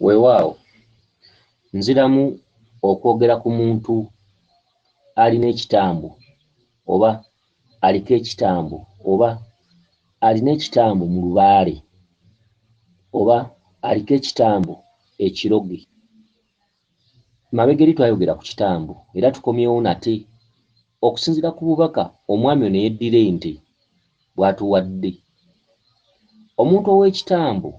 Weewaawo, nziramu okwogera ku muntu alina ekitambo, oba aliko ekitambo, oba alina ekitambo mu lubaale, oba aliko ekitambo ekiroge. Mabegeri twayogera ku kitambo era tukomyewo nate okusinzira ku bubaka omwami ono eyeddira ente bwatuwadde. Omuntu ow'ekitambo,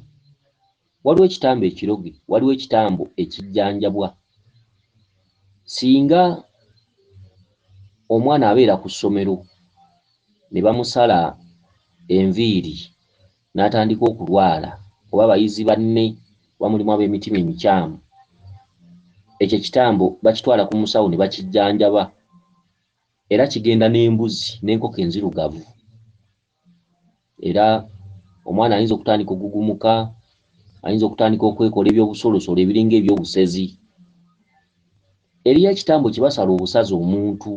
waliwo ekitambo ekiroge, waliwo ekitambo ekijjanjabwa. Singa omwana abeera ku ssomero ne bamusala enviiri n'atandika okulwala oba bayizi banne oba mulimu ab'emitima emikyamu, ekyo ekitambo bakitwala ku musawo ne bakijjanjaba era kigenda n'embuzi n'enkoko enzirugavu era omwana ayinza okutandika okugugumuka, ayinza okutandika okwekola ebyobusolosolo ebiringa ebyobusezi. Eriyo ekitambo kye basala obusazi omuntu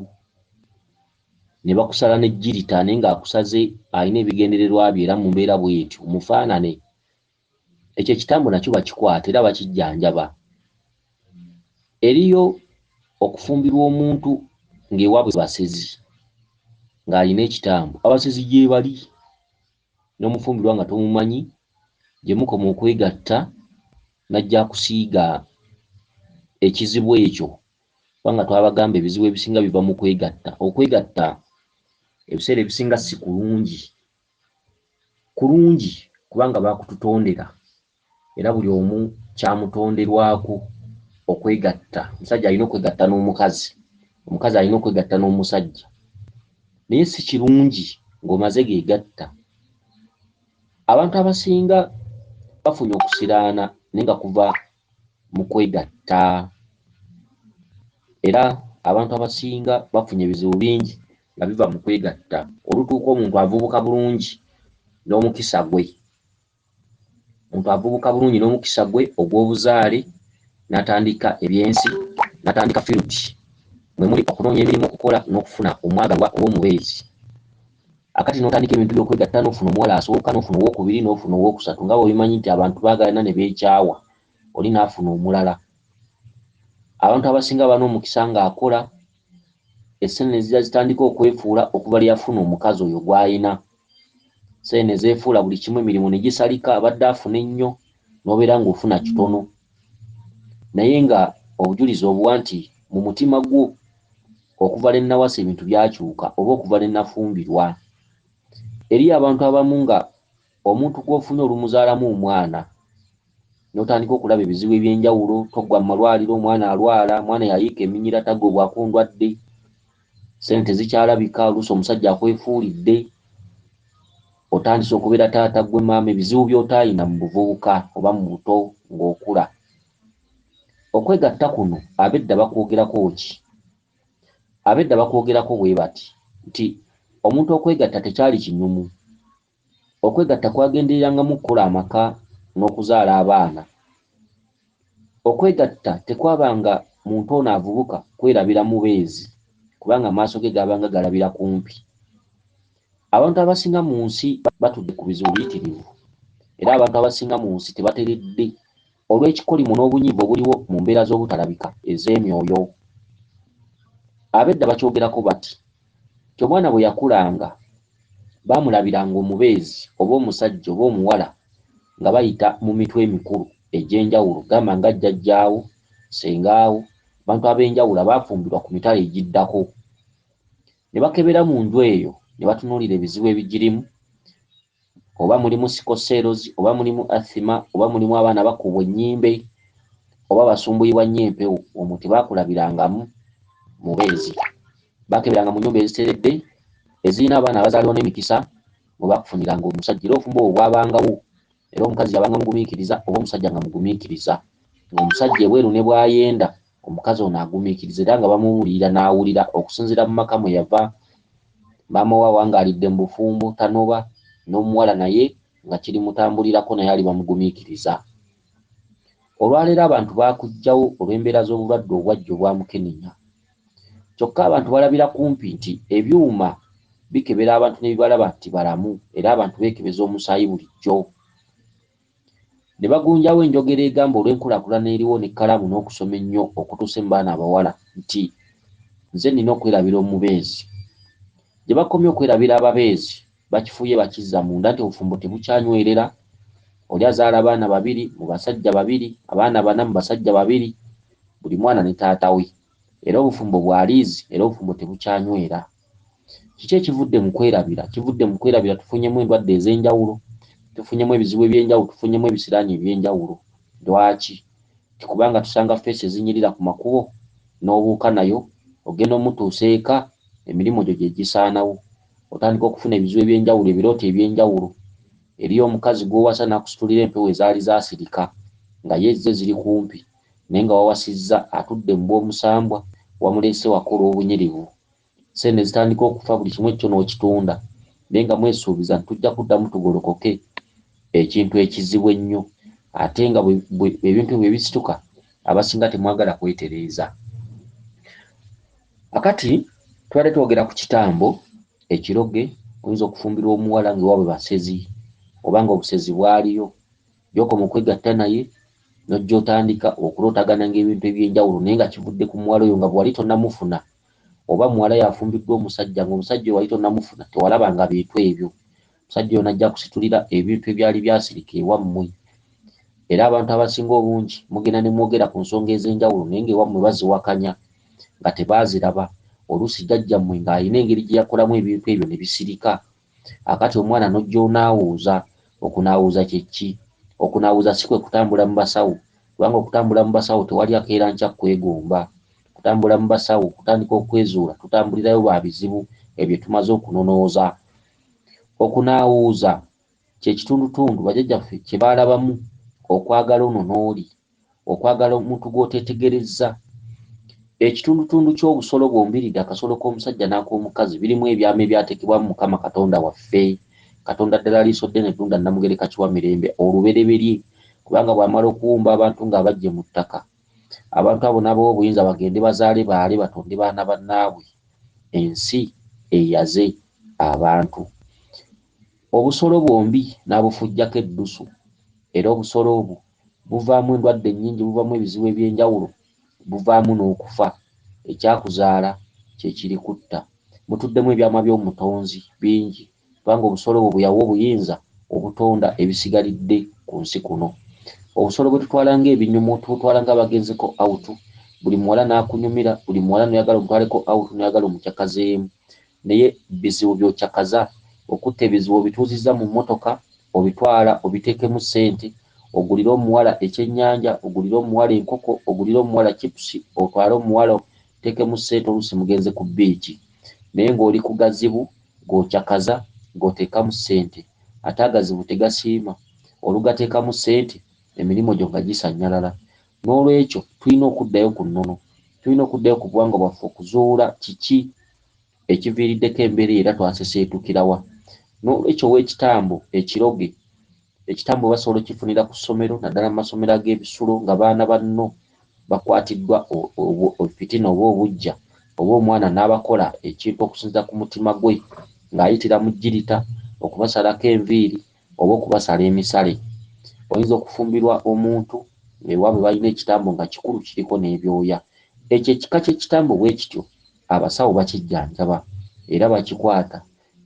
ne bakusala ne jjirita naye ng'akusaze alina ebigendererwa bye era mu mbeera bw'etyo omufaanane, ekyo ekitambo nakyo bakikwata era bakijjanjaba. Eriyo okufumbirwa omuntu ng'ewaabwe basezi ng'alina ekitambo, abasezi gyebali n'omufumbirwa nga tomumanyi gye mukoma okwegatta n'ajja akusiiga ekizibu ekyo. kubanga twabagamba ebizibu ebisinga biva mu kwegatta okwegatta ebiseera ebisinga si kulungi kulungi kubanga bakututondera era buli omu kyamutonderwako okwegatta omusajja alina okwegatta n'omukazi omukazi alina okwegatta n'omusajja naye si kirungi ng'omaze gegatta abantu abasinga bafunye okusiraana naye nga kuva mu kwegatta era abantu abasinga bafunye ebizibu bingi nga biva mu kwegatta olutuuka omuntu avubuka bulungi n'omukisa gwe omuntu avubuka bulungi n'omukisa gwe ogw'obuzaale n'atandika ebyensi n'atandika field mwe muli okunoonya emirimu okukola n'okufuna omwagalwa oba omubeezi. Akati n'otandika ebintu by'okwegatta n'ofuna omuwala asooka n'ofuna owookubiri n'ofuna owookusatu nga bw'obimanyi nti abantu baagalana ne beekyawa oli n'afuna omulala. Abantu abasinga baba n'omukisa ng'akola essene ne zijja zitandika okwefuula okuva lwe yafuna omukazi oyo gw'alina. Ssene ne zeefuula buli kimu emirimu ne gisalika abadde afuna ennyo n'obeera ng'ofuna kitono. naye nga obujulizi obuwa nti mu mutima gwo okuva lwe nawasa ebintu byakyuka oba okuva lwe nafumbirwa. Eriyo abantu abamu nga omuntu gw'ofunye olumuzaalamu omwana n'otandika okulaba ebizibu eby'enjawulo, toggwa mu malwaliro, omwana alwala, omwana yayiika eminyira, tagobwako ndwadde. sente zikyalabika oluusi omusajja akwefuulidde otandise okubeera taata gwe maama ebizibu by'otaayina mu buvubuka oba mu buto ng'okula okwegatta kuno abedda bakwogerako ki abedda bakwogerako bwe bati nti omuntu okwegatta tekyali kinyumu Okwegatta kwagendererangamu okukola amaka n'okuzaala abaana. Okwegatta tekwabanga muntu ono avubuka kwerabira mubeezi kubanga amaaso ge gaabanga galabira kumpi. Abantu abasinga mu nsi batudde ku bizibu biyitirivu era abantu abasinga mu nsi tebateredde. Olw'ekikolimo n'obunyiivu obuliwo mu mbeera z'obutalabika ez'emyoyo, ab'edda bakyogerako bati nti omwana bwe yakulanga baamulabiranga omubeezi oba omusajja oba omuwala nga bayita mu mitwe emikulu egy'enjawulo gamba nga jjajjaawo, ssengaawo, abantu ab'enjawulo abaafumbirwa ku mitala egiddako ne bakebera mu nju eyo ne batunuulira ebizibu ebigirimu oba mulimu sikoseerozi oba mulimu athima oba mulimu abaana bakubwa ennyimbe oba basumbuyibwa nnyo empewo omwo tebakulabirangamu mubeezi bakeberanga mu nyumba eziteredde ezirina abaana abazaalibwa n'emikisa mwe bakufuniranga omusajja era obufumbo obwo bwabangawo era omukazi yabanga mugumiikiriza oba omusajja nga mugumiikiriza ng'omusajja ebweru ne bwayenda Omukazi ono agumiikiriza era nga bamubuulirira n'awulira. Okusinziira mu maka mwe yava, maama we awangaalidde mu bufumbo, tanoba, n'omuwala naye nga kirimutambulirako naye ali bamugumiikiriza. Olwaleero abantu baakuggyawo olw'embeera z'obulwadde obwajja obwamukenenya. Kyokka abantu balabira kumpi nti ebyuma bikebera abantu ne bibalaba nti balamu era abantu beekebeza omusaayi bulijjo. ne bagunjawo enjogera egamba olw'enkulakulana eriwo ne kkalaamu n'okusoma ennyo okutuuse mu baana abawala nti nze nina okwerabira omubeezi. Gye bakomye okwerabira ababeezi bakifuuye bakizza munda nti obufumbo tebukyanywerera, oli azaala abaana babiri mu basajja babiri, abaana bana mu basajja babiri, buli mwana ne taata we. Era obufumbo bwa liizi era obufumbo tebukyanywera. Kiki ekivudde mu kwerabira? Kivudde mu kwerabira tufunyemu endwadde ez'enjawulo, tufunyemu ebizibu eby'enjawulo, tufunyemu ebisiraani eby'enjawulo. Lwaki? Nti kubanga tusanga ffeesi ezinyirira ku makubo, n'obuuka nayo, ogenda omutuusa eka, emirimu gyo gye gisaanawo. Otandika okufuna ebizibu eby'enjawulo, ebirooto eby'enjawulo. Eriyo omukazi gw'owasa n'akusitulira empewo ezaali zaasirika, nga ye ezze ziri kumpi. naye nga wawasizza atudde mu bw'omusambwa wamuleese waka olw'obunyirivu. Ssente ne zitandika okufa buli kimu ekikyo n'okitunda naye nga mwesuubiza nti tujja kuddamu tugolokoke ekintu ekizibu ennyo ate nga ebintu bwe bisituka abasinga temwagala kwetereeza. Akati twali twogera ku kitambo ekiroge oyinza okufumbirwa omuwala nga ewaabwe basezi oba nga obusezi bwaliyo Gy'okoma okwegatta naye n'ojja otandika okulootagananga ebintu eby'enjawulo naye nga kivudde ku muwala oyo nga bwe wali tonnamufuna oba muwala y'afumbiddwa omusajja ng'omusajja oyo wali tonnamufuna tewalabanga bintu ebyo. Omusajja oyo n'ajja akusitulira ebintu ebyali byasirika ewammwe era abantu abasinga obungi mugenda ne mwogera ku nsonga ez'enjawulo naye ng'ewammwe baziwakanya nga tebaaziraba. Oluusi jjajjammwe ng'alina engeri gye yakolamu ebintu ebyo ne bisirika. Akati omwana nojja onaawuuza, okunaawuuza kye kki? Okunaawuuza si kwe kutambula mu basawo, kubanga okutambula mu basawo tewali akeera nkya kukwegomba. Okutambula mu basawo kutandika okwezuula tutambulirayo ba bizibu ebyo tumaze okunonooza. Okunaawuuza kye kitundutundu bajajjaffe kye baalabamu okwagala ono n'oli. Okwagala omuntu gw'oteetegerezza. Ekitundutundu ky'obusolo bwombiriri, akasolo k'omusajja n'ak'omukazi, birimu ebyama ebyateekebwamu Mukama Katonda waffe. Katonda ddala liiso ddene tunda Nnamugereka Kiwamirembe olubereberye, kubanga bw'amala okuwumba abantu ng'abaggye mu ttaka, abantu abo n'abawa obuyinza bagende bazaale baale batonde baana bannaabwe. Ensi eyaze abantu. Obusolo bwombi n'abufujjako eddusu, era obusolo obwo. buvaamu endwadde nnyingi, buvaamu ebizibu eby'enjawulo, buvaamu n'okufa. Ekyakuzaala kye kirikutta. Mutuddemu ebyama by'Omutonzi bingi, kubanga obusolo obwo bwe yawa obuyinza obutonda ebisigalidde ku nsi kuno. Obusolo bwe tutwala ng'ebinyumo, tubutwala ng'abagenzeko awutu, buli muwala n'akunyumira, buli muwala n'oyagala omutwaleko awutu n'oyagala omucakazeemu. Naye bizibu byokyakaza okutta ebizibu obituuzizza mu mmotoka obitwala obiteekemu ssente ogulire omuwala ekyennyanja ogulire omuwala enkoko ogulire omuwala cipusi otwale omuwala oteekemu ssente oluusi mugenze ku bbiici naye ng'oli ku gazibu g'okyakaza g'oteekamu ssente ate agazibu tegasiima olugateekamu ssente emirimu gyo nga gisannyalala N'olwekyo, tulina okuddayo ku nnono. Tulina okuddayo ku buwangwa bwaffe okuzuula kiki ekiviiriddeko embeera eyo era twaseseetukira wa. N'olwekyo, ow'ekitambo ekiroge, ekitambo basobola okifunira ku ssomero, naddala mu masomero ag'ebisulo nga baana banno bakwatiddwa fitina oba obuggya, oba omwana n'abakola ekintu okusinziira ku mutima gwe ng'ayitira mu jjirita, okubasalako enviiri, oba okubasala emisale. Oyinza okufumbirwa omuntu ng'ewaabwe balina ekitambo nga kikulu kiriko n'ebyoya. Ekyo ekika ky'ekitambo bwe kityo abasawo bakijjanjaba era bakikwata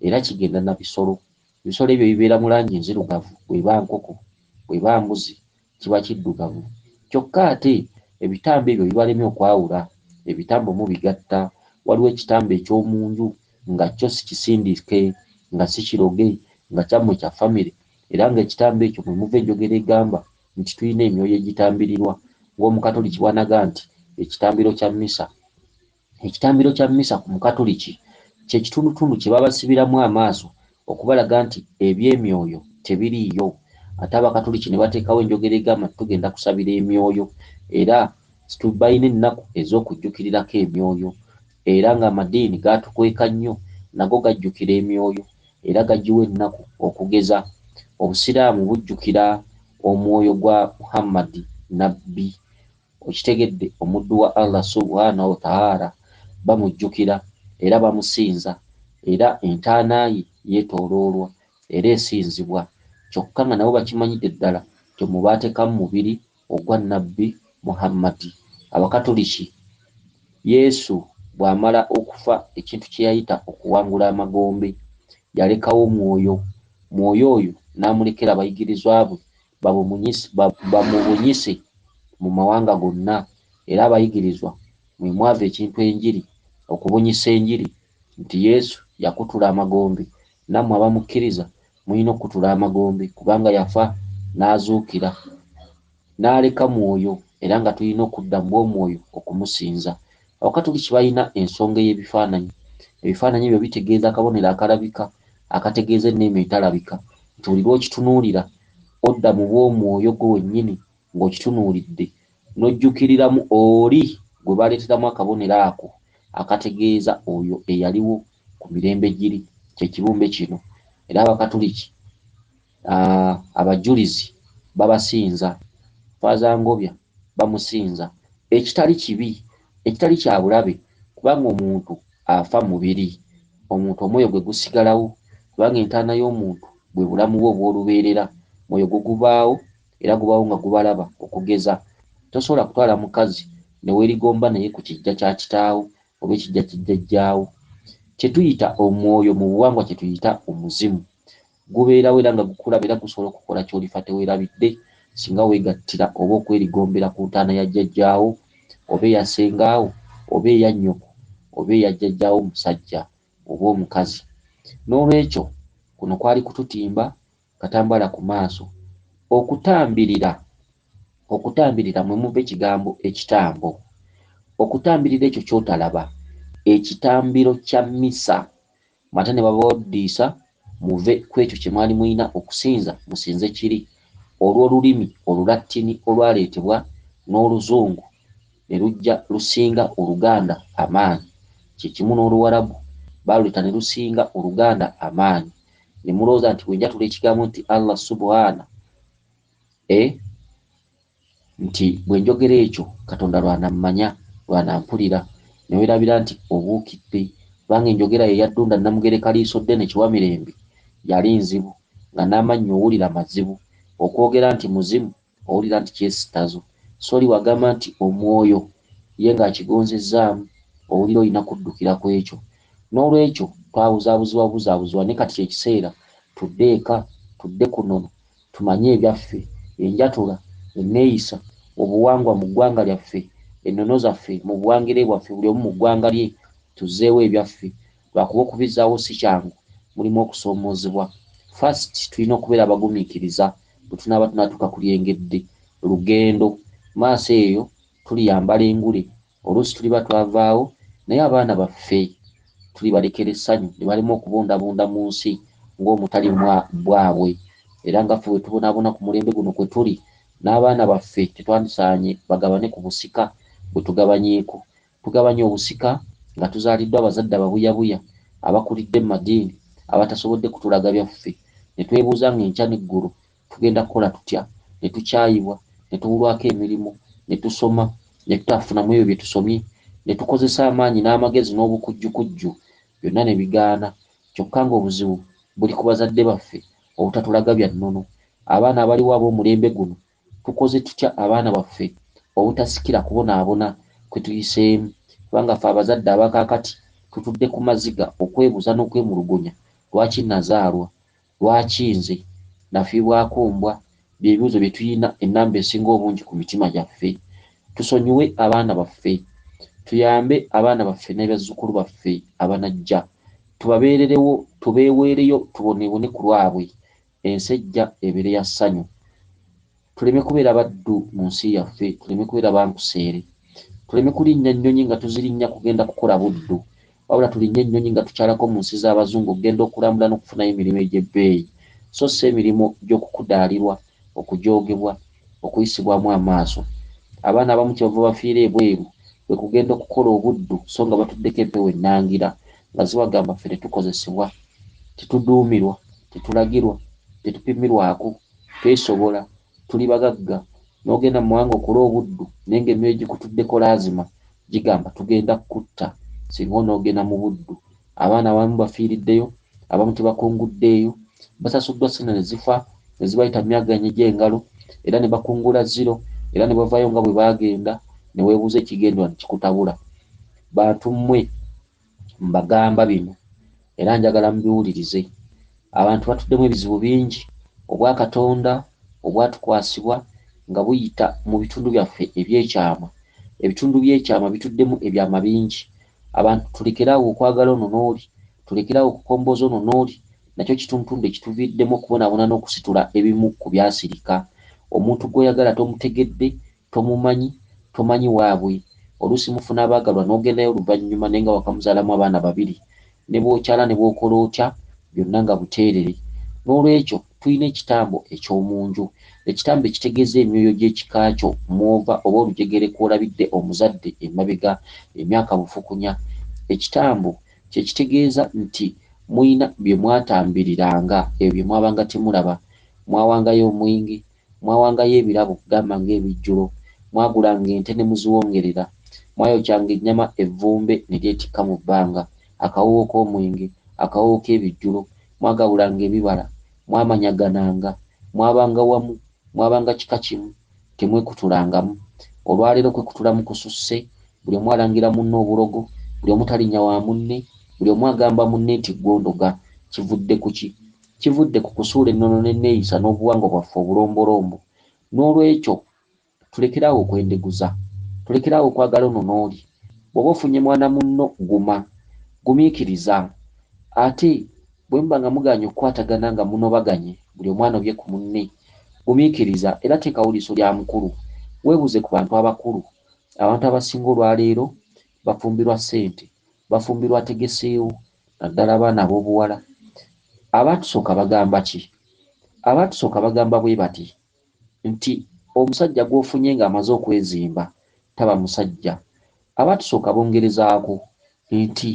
era kigenda na bisolo. Ebisolo ebyo ebibeera mu langi enzirugavu bw'eba nkoko, bw'eba mbuzi, kiba kiddugavu kyokka ate ebitambo ebyo bibalemye okwawula ebitambo mubigatta waliwo ekitambo ekyomunju nga kyo sikisindike nga sikiroge nga kyammwe kya famire era nga ekitambo ekyo mwe muva enjogera egamba nti tulina emyoyo egitambirirwa ng'omukatoliki bwanaga nti ekitambiro kya mmisa Ekitambiro kya Mmisa ku Mukatuliki kye kitundutundu kye babasibiramu amaaso okubalaga nti eby'emyoyo tebiriiyo ate Abakatuliki ne bateekawo enjogera egamba nti tugenda kusabira emyoyo era situ balina ennaku ez'okujjukirirako emyoyo era ng'amadiini gaatukweka nnyo nago gajjukira emyoyo era gagiwa ennaku okugeza Obusiraamu bujjukira omwoyo gwa Muhammad Nnabbi Okitegedde omuddu wa Allah subhaanahu wa ta'aala bamujjukira era bamusinza era entaana ye yetooloolwa era esinzibwa kyokka nga nabo bakimanyidde ddala nti omwo baatekamu mubiri ogwa Nabbi Muhammadi. Abakatuliki, Yesu bw'amala okufa ekintu kye yayita okuwangula amagombe yalekawo mwoyo, mwoyo oyo n'amulekera abayigirizwa be bamubunyise mu mawanga gonna, era abayigirizwa mwe mwava ekintu enjiri, okubunyisa enjiri nti Yesu yakutula amagombe, nammwe abamukkiriza mulina okukutula amagombe kubanga yafa n'azuukira n'aleka mwoyo era nga tulina okudda mu bw'omwoyo okumusinza. Abakatoliki balina ensonga ey'ebifaananyi. Ebifaananyi ebyo bitegeeza akabonero akalabika akategeeza enneema etalabika, nti buli lw'okitunuulira odda mu bw'omwoyo gwo wennyini ng'okitunuulidde, n'ojjukiriramu oli gwe baaleeteramu akabonero ako akategeeza oyo eyaliwo ku mirembe giri, kye kibumbe kino. Era Abakatoliki. Ah, abajulizi babasinza, Faaza Ngobya bamusinza ekitali kibi, ekitali kya bulabe kubanga omuntu afa mubiri, omuntu omwoyo gwe gusigalawo kubanga entaana y'omuntu bwe bulamu bwe obw'olubeerera, mwoyo gwo gubaawo era gubaawo nga gubalaba okugeza tosobola kutwala mukazi ne weerigomba naye ku kijja kya kitaawo oba ekijja kijjajjaawo. Kye tuyita omwoyo mu buwangwa kye tuyita omuzimu. Gubeerawo era nga gukulaba era gusobola okukukola ky'olifa teweerabidde singa weegattira oba okwerigombera ku ntaana ya jjajjaawo oba eya ssengaawo oba eya nnyoko oba eya jjajjaawo omusajja oba omukazi. N'olwekyo kuno kwali kututimba katambaala ku maaso. Okutambirira Okutambirira mwe muva ekigambo ekitambo. Okutambirira ekyo ky'otalaba, ekitambiro kya mmisa. ate ne babawddiisa muve ku ekyo kye mwali mulina okusinza musinze kiri, olw'olulimi olulattini olwaleetebwa n'oluzungu ne lujja lusinga oluganda amaanyi, kye kimu n'oluwarabu baaluleeta ne lusinga oluganda amaanyi, ne mulowooza nti bwe njatula ekigambo nti Allah Subuhaana, e. nti bwe njogera ekyo Katonda lw'anammanya, lw'anampulira, ne weerabira nti obuukidde, kubanga enjogera ye yaddunda Nnamugereka Liisoddene Kiwamirembe yali nzibu, nga n'amannyo owulira mazibu, okwogera nti muzimu owulira nti kyesittazo, sorry wagamba nti omwoyo, ye ng'akigonzezzaamu, owulira olina kuddukira ku ekyo. N'olwekyo twabuzaabuzibwa buzaabuzibwa naye kati kye kiseera tudde eka, tudde kunono, Tumanye ebyaffe, enjatula, enneeyisa, obuwangwa mu ggwanga lyaffe, ennono zaffe mu buwangire bwaffe buli omu mu ggwanga lye, tuzzeewo ebyaffe lwakuba okubizzaawo si kyangu, mulimu okusoomoozebwa. First tulina okubeera abagumiikiriza bwe tunaaba tunatuuka ku lyengedde, lugendo, maaso eyo tuliyambala engule Oluusi tuliba twavaawo, naye abaana baffe tulibalekera essanyu ne balema okubundabunda mu nsi ng'omutali mwa bwabwe. Era nga ffe bwe tubonaabona ku mulembe guno kwe tuli, n'abaana baffe tetwandisaanye bagabane ku busika bwe tugabanyeeko. Tugabanye obusika nga tuzaaliddwa abazadde ababuyabuya, abakulidde mu madiini, abatasobodde kutulaga byaffe, ne twebuuza ng'enkya n'eggulo Tugenda kukola tutya? Ne tukyayibwa, ne tubulwako emirimu, ne tusoma, ne tutaafuna mu ebyo bye tusomye, ne tukozesa amaanyi n'amagezi n'obukujjukujju, byonna ne bigaana. Kyokka ng'obuzibu buli ku bazadde baffe obutatulaga bya nnono. Abaana abaliwo ab'omulembe guno, tukoze tutya abaana baffe obutasikira kubonaabona kwe tuyiseemu? Kubanga ffe abazadde aba kaakati tutudde ku maziga okwebuuza n'okwemulugunya, Lwaki nnazaalwa? Lwaki nze? Nafiibwako mbwa? Bye bibuuzo bye tulina ennamba esinga obungi ku mitima gyaffe. Tusonyiwe abaana baffe. Tuyambe abaana baffe n'abazzukulu baffe abanajja. Tubabeererewo, tubeeweereyo, tuboneebone ku lwabwe. Ensi ejja ebeere ya ssanyu. Tuleme kubeera baddu mu nsi yaffe, tuleme kubeera ba nkuseere, tuleme kulinnya nnyonyi nga tuzirinnya kugenda kukola buddu, wabula tulinnye ennyonyi nga tukyalako mu nsi z'Abazungu okugenda okulambula n'okufunayo emirimu egy'ebbeeyi, so si emirimu gy'okukudaalirwa, okujoogebwa, okuyisibwamu amaaso. Abaana abamu kye bava bafiira ebweru kwe kugenda okukola obuddu so nga batuddeko empewo ennangira nga zibagamba ffe tetukozesebwa, tetuduumirwa, tetulagirwa, tetupimirwako, Twesobola, tuli bagagga, n'ogenda mu mawanga okole obuddu naye ng'emyoyo gikutuddeko laazima gigamba tugenda kukutta singa onoogenda mu buddu. Abaana abamu bafiiriddeyo, abamu tebakunguddeeyo, basasuddwa ssente ne zifa ne zibayita myaganya gy'engalo era ne bakungula zziro era ne bavaayo nga bwe baagenda ne weebuuza ekigenderwa ne kikutabula. Bantu mmwe! Mbagamba bino era njagala mubiwulirize. Abantu batuddemu ebizibu bingi. Obwa Katonda obwatukwasibwa nga buyita mu bitundu byaffe eby'ekyama. Ebitundu by'ekyama bituddemu ebyama bingi. Abantu tulekere awo okwagala ono n'oli, tulekere awo okukombooza ono n'oli, nakyo kituntundu ekituviiriddemu okubonaabona n'okusitula ebimu ku byasirika. Omuntu gw'oyagala tomutegedde. Tomumanyi, tomanyi waabwe. Oluusi mufuna abaagalwa n'ogendayo oluvannyuma naye nga wakamuzaalamu abaana babiri. Ne bw'okyala ne bw'okola otya, byonna nga buteerere. N'olwekyo, tulina ekitambo eky'omu nju. Ekitambo ekitegeeza emyoyo gy'ekika kyo mw'ova oba olujegere kw'olabidde omuzadde emabega emyaka bufukunya. Ekitambo kye kitegeeza nti mulina bye mwatambiriranga, ebyo bye mwabanga temulaba. Mwawangayo omwenge, Mwawangayo ebirabo, gamba ng'ebijjulo. Mwagulanga ente ne muziwongerera. Mwayokyanga ennyama evvumbe ne lyetikka mu bbanga, akawoowo k'omwenge, akawoowo k'ebijjulo. Mwagabulanga ebibala. Mwamanyagananga. Mwabanga wamu. Mwabanga kika kimu. Temwekutulangamu. Olwa leero okwekutulamu kususse. Buli omu alangira munne obulogo. Buli omu talinnya wa munne. Buli omu agamba munne nti ggwe ondoga. Kivudde ku ki? Kivudde ku kusuula ennono n'enneeyisa n'obuwangwa bwaffe obulombolombo. N'olwekyo, tulekere awo okwendeguza. Tulekere awo okwagala ono n'oli. Bw'oba ofunye mwana munno, guma. Gumiikiriza. Ate, bwe muba nga mugaanye okukwatagana nga munobaganye, buli omu anobye ku munne, gumiikiriza era teekawo liiso lya mukulu. Weebuuze ku bantu abakulu. Abantu abasinga olwa leero bafumbirwa ssente, bafumbirwa ategeseewo naddala abaana ab'obuwala. Abaatusooka bagamba ki? Abaatusooka bagamba bwe bati nti omusajja gw'ofunye ng'amaze okwezimba taba musajja. Abaatusooka bongerezaako nti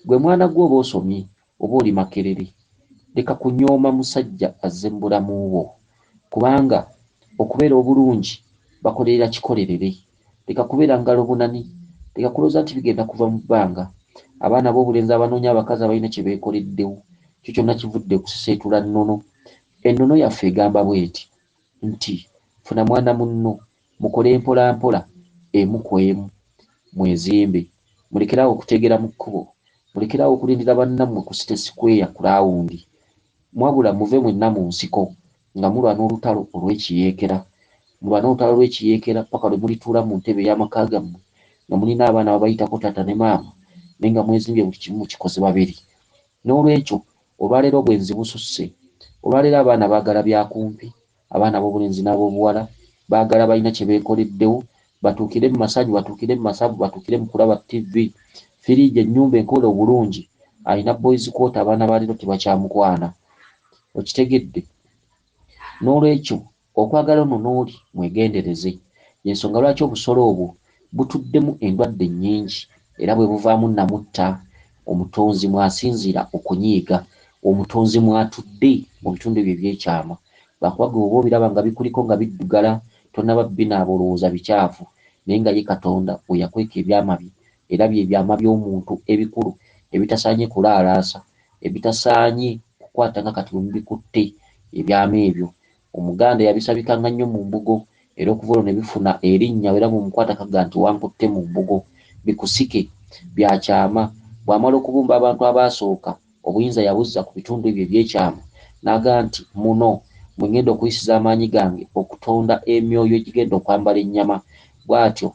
gwe mwana gw'oba osomye Oba oli Makerere leka kunyooma musajja azze mubulamu bwo kubanga okubeera obulungi bakolerera kikolerere leka kubeera ngalobunani leka kulooza nti bigenda kuva mu bbanga abaana bobulenzi abanoonya abakazi abalina kyebekoleddewo kyo kyonna kivudde kuseseetula nnono ennono yaffe egamba bweti nti funa mwana munno Mukole mpola mpola emu ku emu. Mwezimbe. Mulekere awo okuteegera mu kkubo. Mulekere awo okulindira bannammwe ku City Square ku laawundi. Mwabula muve mwenna mu nsiko nga mulwana olutalo olw'ekiyeekera. Mulwane olutalo lw'ekiyeekera ppaka lwe mulituula mu ntebe ey'amaka gammwe nga mulina abaana ababayitako taata ne maama naye nga mwezimbye buli kimu mukikoze babiri. N'olwekyo, olwaleero obwenzi bususse. Olwaleero abaana baagala bya kumpi. Abaana ab'obulenzi n'ab'obuwala baagala balina kye beekoleddewo, batuukire mu masanyu, batuukire mu masavu, batuukire mu kulaba ttivi, firiigi, ennyumba enkoole obulungi. Alina boys quarter, abaana ba leero tebakyamukwana. Okitegedde? N'olwekyo okwagala ono n'oli mwegendereze. Y'ensonga lwaki obusolo obwo. butuddemu endwadde nnyingi era bwe buvaamu namutta, Omutonzi mw'asinziira okunyiiga, Omutonzi mw'atudde mu bitundu ebyo eby'ekyama. Lwakuba ggwe bw'oba obiraba nga bikuliko nga biddugala, tonnaba binaaba olowooza bicaafu, naye nga ye Katonda we yakweka ebyama bye, era bye byama by'omuntu ebikulu ebitasaanye kulaalaasa, ebitasaanye kukwata nga kati bwe mubikutte, ebyama ebyo Omuganda eyabisabikanga nnyo mu mbugo era okuva olwo ne bifuna erinnya era bw'omukwata kaga nti wankutte mu mbugo. Bikusike, Bya kyama, Bw'amala okubumba abantu abaasooka, obuyinza yabuzza ku bitundu ebyo eby'ekyama n'aga nti muno mwe ngenda okuyisiza amaanyi gange okutonda emyoyo egigenda okwambala ennyama bw'atyo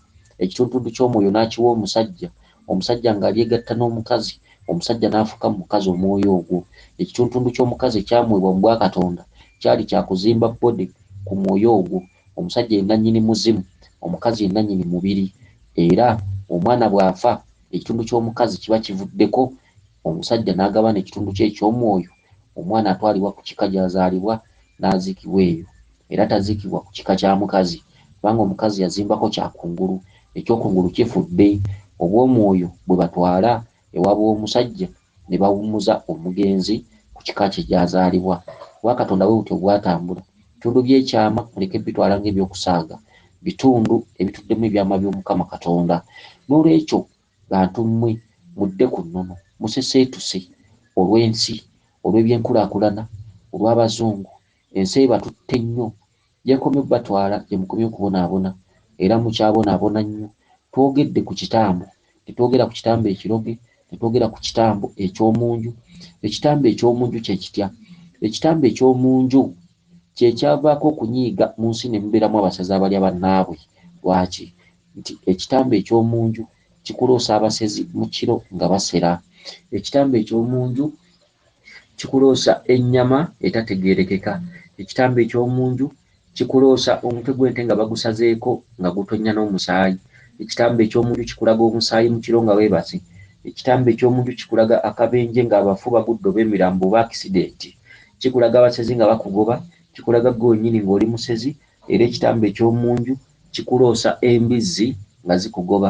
ekituntuntu ky'omwoyo n'akiwa omusajja Omusajja nga alyegatta n'omukazi, omusajja n'afuuka mu mukazi omwoyo ogwo. Ekituntundu ky'omukazi ekyamuweebwa mu bwakatonda kyali kya kuzimba body ku mwoyo ogwo. Omusajja ye nannyini muzimu, omukazi ye nannyini mubiri. Era omwana bw'afa, ekitundu ky'omukazi kiba kivuddeko, omusajja n'agabana ekitundu kye eky'omwoyo, omwana atwalibwa ku kika gy'azaalibwa n'aziikibwa eyo. Era tazikibwa ku kika kya mukazi, kubanga omukazi yazimbako kya kungulu, eky'okungulu kifudde, obw'omwoyo bwe batwala ewa b'omusajja ne bawummuza omugenzi ku kika kye gy'azaalibwa. Obwa Katonda bwe butyo bwatambula. Ebitundu by'ekyama muleke bitwala nga eby'okusaaga, bitundu ebituddemu ebyama by'Omukama Katonda. N'olwekyo, bantu mmwe, mudde ku nnono, museseetuse, olw'ensi, olw'eby'enkulaakulana, olw'abazungu, Ensi ebatutte nnyo. Gyekomye okubatwala gye mukomye okubonaabona. Era mukyabonaabona nnyo. Twogedde ku kitambo. Tetwogera ku kitambo ekiroge. Tetwogera ku kitambo eky'omu nju. Ekitambo eky'omu nju kye kitya? Ekitambo eky'omu nju kye kyavaako okunyiiga mu nsi ne mubeeramu abasazi abalya bannaabwe. Lwaki? Nti ekitambo eky'omu nju kikuloosa abasezi mu kiro nga basera. Ekitambo eky'omu nju Kikuloosa ennyama etategeerekeka, ekitambo eky'omu nju, kikuloosa omutwe gw'ente nga bagusazeeko nga gutonnya n'omusaayi, ekitambo eky'omu nju kikulaga omusaayi mu kiro nga weebase, ekitambo eky'omu nju kikulaga akabenje ng'abafu bagudde oba emirambo oba akisidenti, kikulaga abasezi nga bakugoba, kikulaga ggwe wennyini ng'oli musezi era ekitambo eky'omu nju kikuloosa embizzi nga zikugoba,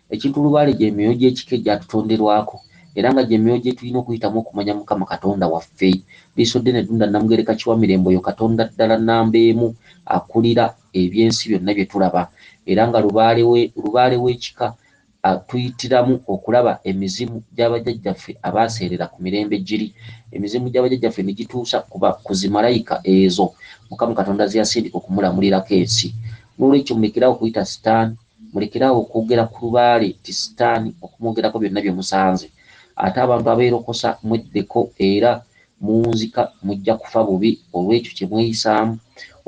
Ekintu lubaale gye myoyo gy'ekika egyatutonderwako era nga gye myoyo gye tulina okuyitamu okumanya Mukama Katonda waffe. Liisoddene Ddunda Nnamugereka Kiwamirembe oyo Katonda ddala nnamba emu akulira eby'ensi byonna bye tulaba era nga lubaale we lubaale w'ekika atuyitiramu okulaba emizimu gya bajjajjaffe abaaseerera ku mirembe giri. Emizimu gya bajjajjaffe ne gituusa ku ba ku zimalayika ezo Mukama Katonda ze yasindika okumulamulirako ensi. N'olwekyo mulekere awo okuyita sitaani. Mulekere awo okwogera ku lubaale nti sitaani okumwogerako byonna bye musanze. Ate abantu abeerokosa mweddeko era muwunzika mujja kufa bubi olw'ekyo kye mweyisaamu.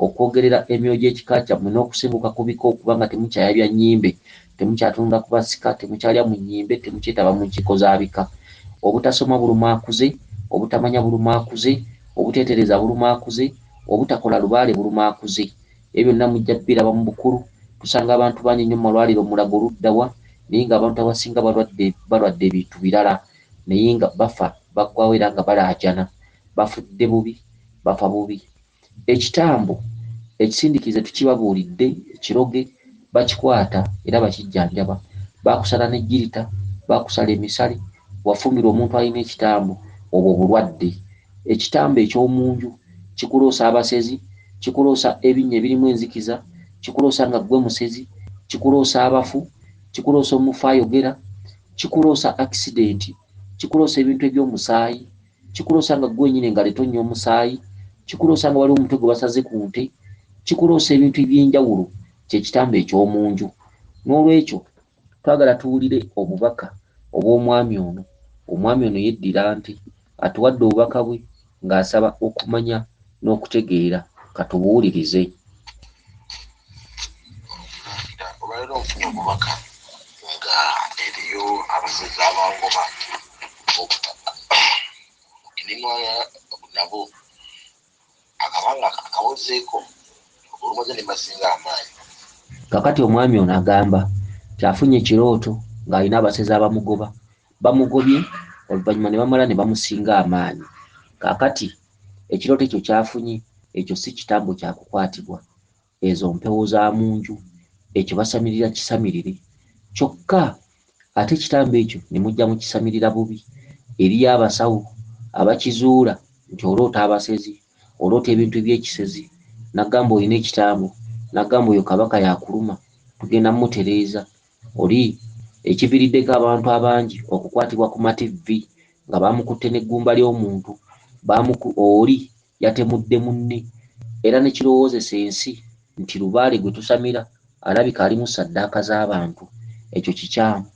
Okwogerera emyoyo gy'ekika kyammwe n'okusenguka ku bika okuba nga temukyayabya nnyimbe, temukyatunula ku basika, temukyalya mu nnyimbe, temukyetaba mu nkiiko za bika. Obutasoma buluma akuze, obutamanya buluma akuze, obuteetereeza buluma akuze, obutakola lubaale buluma akuze. Ebyo byonna mujja kubiraba mu bukulu. Tusanga abantu bangi nnyo mu malwaliro, Mulago ludda wa? naye nga abantu abasinga balwadde, balwadde bintu birala naye nga bafa, baggwaawo era nga balaajana. Bafudde bubi, bafa bubi. Ekitambo ekisindikize tukibabuulidde, ekiroge bakikwata era bakijjanjaba. Bakusala ne jjirita, bakusala emisale, wafumbirwa omuntu alina ekitambo, obwo bulwadde. Ekitambo eky'omu nju kikuloosa abasezi, kikuloosa ebinnya ebirimu enzikiza, kikuloosa nga ggwe musezi, kikuloosa abafu, kikuloosa omufu ayogera, kikuloosa akisidenti, kikuloosa ebintu eby'omusaayi, kikuloosa nga ggwe wennyini engalo etonnya omusaayi, kikuloosa nga waliwo omutwe gwe basaze ku nte, kikuloosa ebintu eby'enjawulo. Kye kitambo eky'omu nju. N'olwekyo. Twagala tuwulire obubaka obw'omwami ono. Omwami ono yeddira nte. Atuwadde obubaka bwe ng'asaba okumanya n'okutegeera. Ka tubuwulirize. Nkaabira. Olwaleero nfunye obubaka nga eriyo abasezi abangoba. Obubaka obwo ngenimwala nabo akabanga akawozeeko olumaze ne masinga amaanyi. Kakati omwami ono agamba nti afunye ekirooto ng'alina abasezi abamugoba, bamugobye oluvannyuma ne bamala ne bamusinga amaanyi. Kakati ekirooto ekyo ky'afunye ekyo si kitambo kya kukwatibwa ezo mpewo za mu nju ekyo basamirira kisamirire kyokka ate ekitambo ekyo ne mujja mu kisamirira bubi eriyo abasawo abakizuula nti oloota abasezi oloota ebintu ebyekisezi nagamba olina ekitambo nagamba oyo kabaka yakuluma tugenda mutereeza oli ekiviriddeko abantu abangi okukwatibwa ku mativvi nga baamukutte n'eggumba ly'omuntu oli yatemudde munne era ne kirowoozesa ensi nti Lubaale gwe tusamira alabika alimu ssaddaaka z'abantu. Ekyo kikyamu.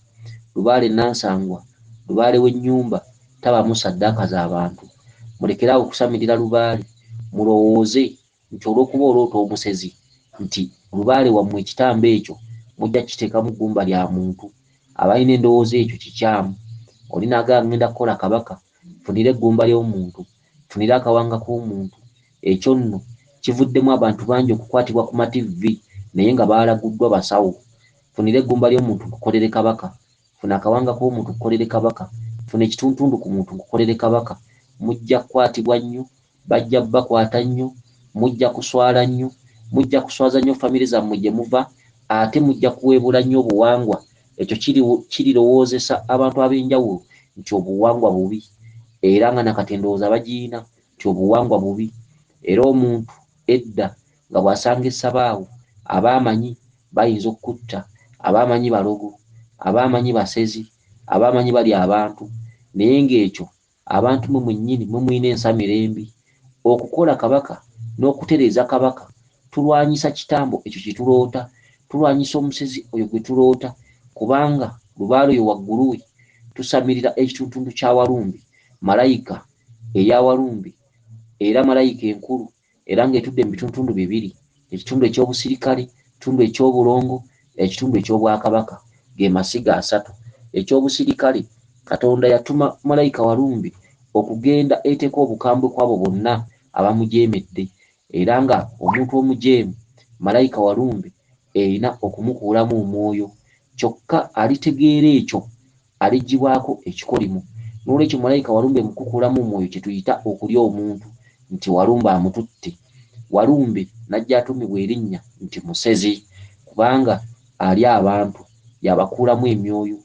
Lubaale Nansangwa, Lubaale w'ennyumba tabaamu ssaddaaka za bantu. Mulekere awo okusamirira Lubaale. Mulowooze nti olw'okuba oloota omusezi nti Lubaale wammwe ekitambo ekyo mujja kukiteekamu ggumba lya muntu. Abalina endowooza ekyo kikyamu. Oli n'agamba ng'enda kukola Kabaka nfunire eggumba ly'omuntu. Funira akawanga k'omuntu. Ekyo nno kivuddemu abantu bangi okukwatibwa ku mativvi naye nga baalaguddwa basawo. Funira eggumba ly'omuntu nkukolere Kabaka. Funa akawanga k'omuntu nkukolere Kabaka. Funa ekituntundu ku muntu nkukolere Kabaka. Mujja kukwatibwa nnyo, bajja kubakwata nnyo, mujja kuswala nnyo, mujja kuswaza nnyo famire zammwe gye muva ate mujja kuweebuula nnyo obuwangwa. Ekyo kirirowoozesa abantu ab'enjawulo nti obuwangwa bubi, era nga na kati endowooza bagirina nti obuwangwa bubi, era omuntu edda nga bw'asanga essabaawo, aba amanyi bayinza okukutta, aba amanyi balogo, aba amanyi basezi, aba amanyi balya abantu, naye ng'ekyo Abantu mwe mwennyini mwe mulina ensamira embi. Okukola Kabaka n'okutereeza Kabaka, tulwanyisa kitambo ekyo kye tuloota, tulwanyisa omusezi oyo gwe tuloota, kubanga Lubaale oyo waggulu we tusamirira ekituntundu kya Walumbi, Malayika eya Walumbi era Malayika enkulu. era ng'etudde mu bituntundu bibiri ekitundu eky'obusirikale ekitundu eky'obulongo ekitundu eky'obwakabaka ge masiga asatu eky'obusirikale katonda yatuma malayika walumbi okugenda eteeka obukambwe kwabo bonna abamujeemedde era nga omuntu omujeemu malayika walumbi Erina okumukuulamu omwoyo. Kyokka alitegeera ekyo, aliggyibwako ekikolimo. N'olwekyo malayika Walumbe mu kukukuulamu omwoyo kye tuyita okulya omuntu nti Walumbe amututte. Walumbe n'ajja atuumibwa erinnya nti Musezi kubanga alya abantu, y'abakuulamu emyoyo.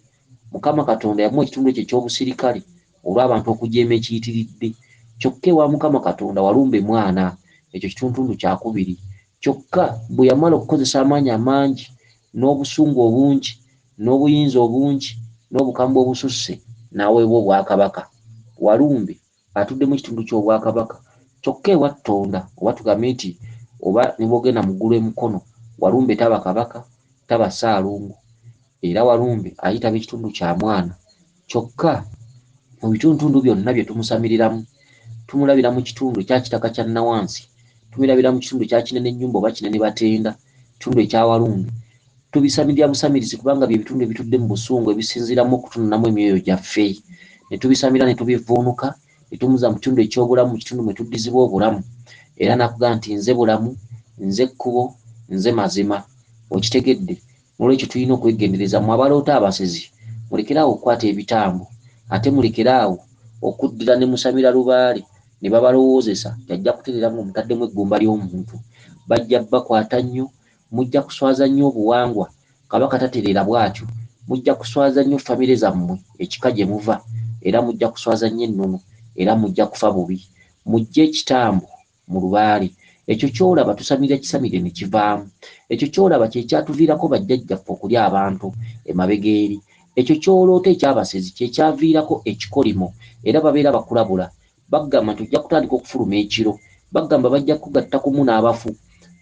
Mukama Katonda yamuwa ekitundu ekyo eky'obusirikale olw'abantu okujeema ekiyitiridde. Kyokka ewa Mukama Katonda Walumbe mwana, ekyo kituntundu kya kubiri. Kyokka bwe yamala okukozesa amaanyi amangi, n'obusungu obungi, n'obuyinza obungi, n'obukambwe obususse, n'aweebwa obwakabaka. Walumbe atudde mu kitundu ky'obwakabaka. Kyokka ewa Tonda, oba tugambe nti, oba ne bw'ogenda mu ggulu e Mukono, Walumbe taba Kabaka, taba Ssaalongo. Era Walumbe ayitaba ekitundu kya mwana. Kyokka, mu bituntundu byonna bye tumusamiriramu, tumulabira mu kitundu ekya kitaka kya nnawansi, tumilabira mu kitundu ekya kinene nnyumba oba kinene batenda, kitundu ekya walumbe. Tubisamirira busamirizi kubanga bye bitundu ebitudde mu busungu ebisinziiramu okutununamu emyoyo gyaffe. Ne tubisamirira ne tubivvuunuka, ne tumuza mu kitundu eky'obulamu, mu kitundu mwe tuddizibwa obulamu. Era n'akugamba nti, Nze bulamu, Nze kkubo, Nze mazima. Okitegedde? Nolwekyo tulina okwegendereza mwe abaloota abasezi mulekere awo okukwata ebitambo ate mulekere awo okuddira ne musamira lubaale ne babalowoozesa nti ajja kutereera nga omutaddemu eggumba ly'omuntu. Bajja bakwata nnyo, mujja kuswaza nnyo obuwangwa, Kabaka tatereera bwatyo, mujja kuswaza nnyo famire zammwe, ekika gye muva era mujja kuswaza nnyo ennono era mujja kufa bubi. Mujje ekitambo mu lubaale ekyo kyolaba tusamira kisamire ne kivaamu ekyo kyolaba kyekyatuviirako bajjajjaffe okulya abantu emabega eri ekyo kyoloota ekyabasezi kyekyaviirako ekikolimo era babeera bakulabula bagamba nti ojja kutandika okufuluma ekiro bagamba bajja kugatta kumu n'abafu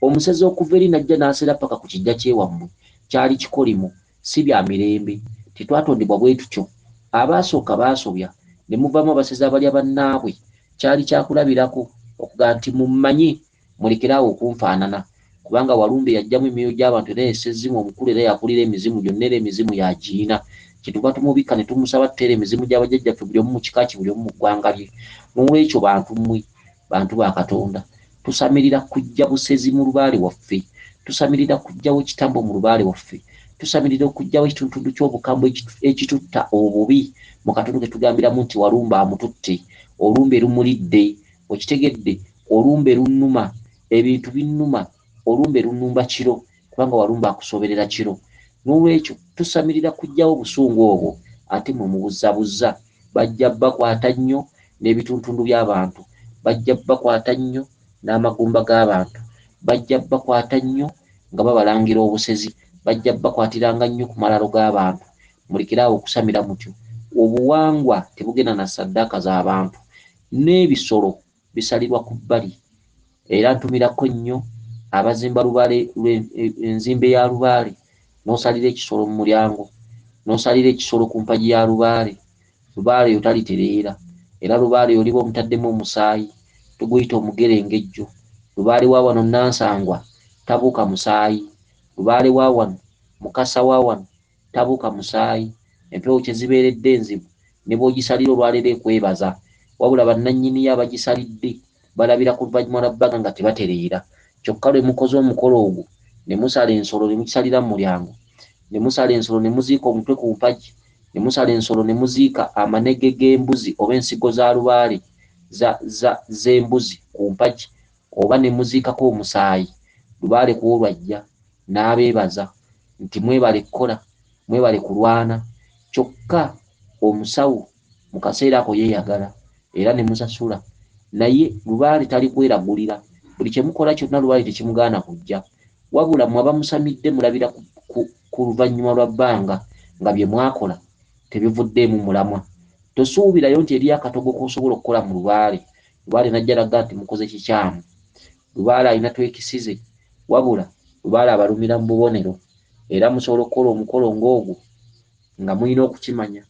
omusezi okuva eri najja n'asera paka ku kijja kyewammwe kyali kikolimo si bya mirembe. Tetwatondebwa bwe tutyo. Abaasooka baasobya, ne muvaamu abasezi abalya bannaabwe. Kyali kya kulabirako, okugamba nti, Mummanyi, mulekere awo okunfaanana. Kubanga, Walumbe yaggyamu emyoyo gy'abantu, era ye ssezzimu omukulu era y'akulira emizimu gyonna, era emizimu y'agirina. Kyetuva tumubikka ne tumusaba, Tteera emizimu gya bajjajjaffe, buli omu mu kika kye, buli omu mu ggwanga lye. N'olwekyo, bantu mmwe, Bantu ba Katonda, tusamirira kujja busezi mu lubaale waffe. Tusamirira kujjawo kitambo mu lubaale waffe. Tusamirira okujjawo ekitundutundu ky'obukambwe ekitutta obubi mu katundu ke tugambiramu nti walumbe amututte, olumbe lumulidde. Okitegedde? Olumbe lunnuma. Ebintu binnuma. Olumbe lunnumba kiro. kubanga walumba akusoberera kiro n'olwekyo tusamirira kujjawo obusungu obwo ate mwe mubuzabuzza bajja bakwata nnyo n'ebituntundu by'abantu bajja bakwata nnyo n'amagumba g'abantu bajja bakwata nnyo nga babalangira obusezi bajja bakwatiranga nnyo ku malalo g'abantu mulekere awo okusamira mutyo obuwangwa tebugenda na saddaaka z'abantu n'ebisolo bisalirwa ku bbali era ntumirako nnyo abazimba lubaale enzimbe ya lubaale n'osalira ekisolo mu mulyango n'osalira ekisolo ku mpagi ya lubaale lubaale yo talitereera era lubaale yoliba omutaddemu omusaayi tuguyita omugerengejjo lubaale wa wano nansangwa tabuuka musaayi lubaale wa wano mukasa wa wano tabuka musaayi, empewo kye zibeeredde enzibu ne bw'ogisalira olwaleero ekwebaza wabula bannannyiniyo abagisalidde balabira ku luvannyuma lwa bbanga nga tebatereera kyokka lwe mukoze omukolo ogwo ne musala ensolo ne mukisalira mu mulyango ne musala ensolo ne muziika omutwe ku mpagi ne musala ensolo ne muziika amanege g'embuzi oba ensigo za lubaale za za z'embuzi ku mpagi oba ne muziikako omusaayi lubaale ku olwo ajja n'abeebaza nti mwebale kukola, mwebale kulwana kyokka omusawo mu kaseera ako yeeyagala era ne musasula naye lubaale talikweragulira, buli kye mukola kyonna lubaale tekimugaana kujja wabula mmwe abamusamidde mulabira ku luvannyuma lwa bbanga nga bye mwakola tebivuddeemu mulamwa. Tosuubirayo nti eriyo akatogo k'osobola okukola mu lubaale Lubaale n'ajja n'agamba nti mukoze kikyamu. Lubaale alina twekisize. Wabula Lubaale abalumira mu bubonero era musobola okukola omukolo ng'ogwo nga mulina okukimanya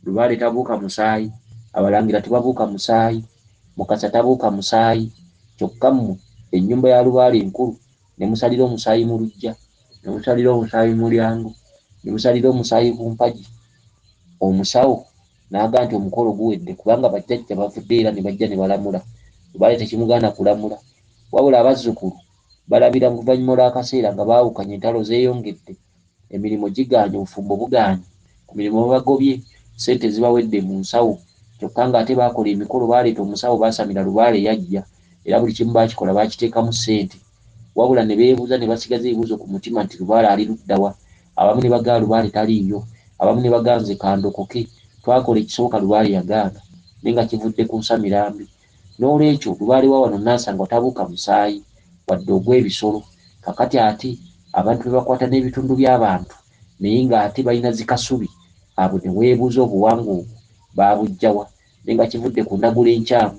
Lubaale tabuuka musaayi, Abalangira tebabuuka musaayi, Mukasa tabuuka musaayi kyokka mmwe ennyumba ya Lubaale nkulu ne musalira omusaayi mu luggya, ne musalira omusaayi mu mulyango, ne musalira omusaayi ku mpagi, omusawo. N'agamba nti, Omukolo guwedde, kubanga bajjajja bavuddeyo era ne bajja ne balamula. Lubaale tekimugaana kulamula. Wabula abazzukulu balabira mu luvannyuma olw'akaseera nga baawukanye, entalo zeeyongedde, emirimu gigaanyi, obufumbo bugaanyi, ku mirimu babagobye, ssente zibawedde mu nsawo, kyokka ng'ate baakola emikolo, baaleeta omusawo, baasamira lubaale yajja, era buli kimu baakikola, baakiteekamu ssente. wabula ne beebuuza ne basigaza ebibuuzo ku mutima nti Lubaale ali ludda wa? Abamu ne bagaa Lubaale taliiyo, abamu ne bagaa nze ka ndokoke. Twakola ekisoboka Lubaale yagaana naye nga kivudde ku nsamira mbi. N'olwekyo Lubaale wa wano Nansangwa tabuuka musaayi wadde ogw'ebisolo. Kaakati ate abantu be bakwata n'ebitundu by'abantu naye ng'ate balina zi Kasubi abo ne weebuuza obuwangwa obwo baabuggya wa? ne nga kivudde ku ndagula enkyamu,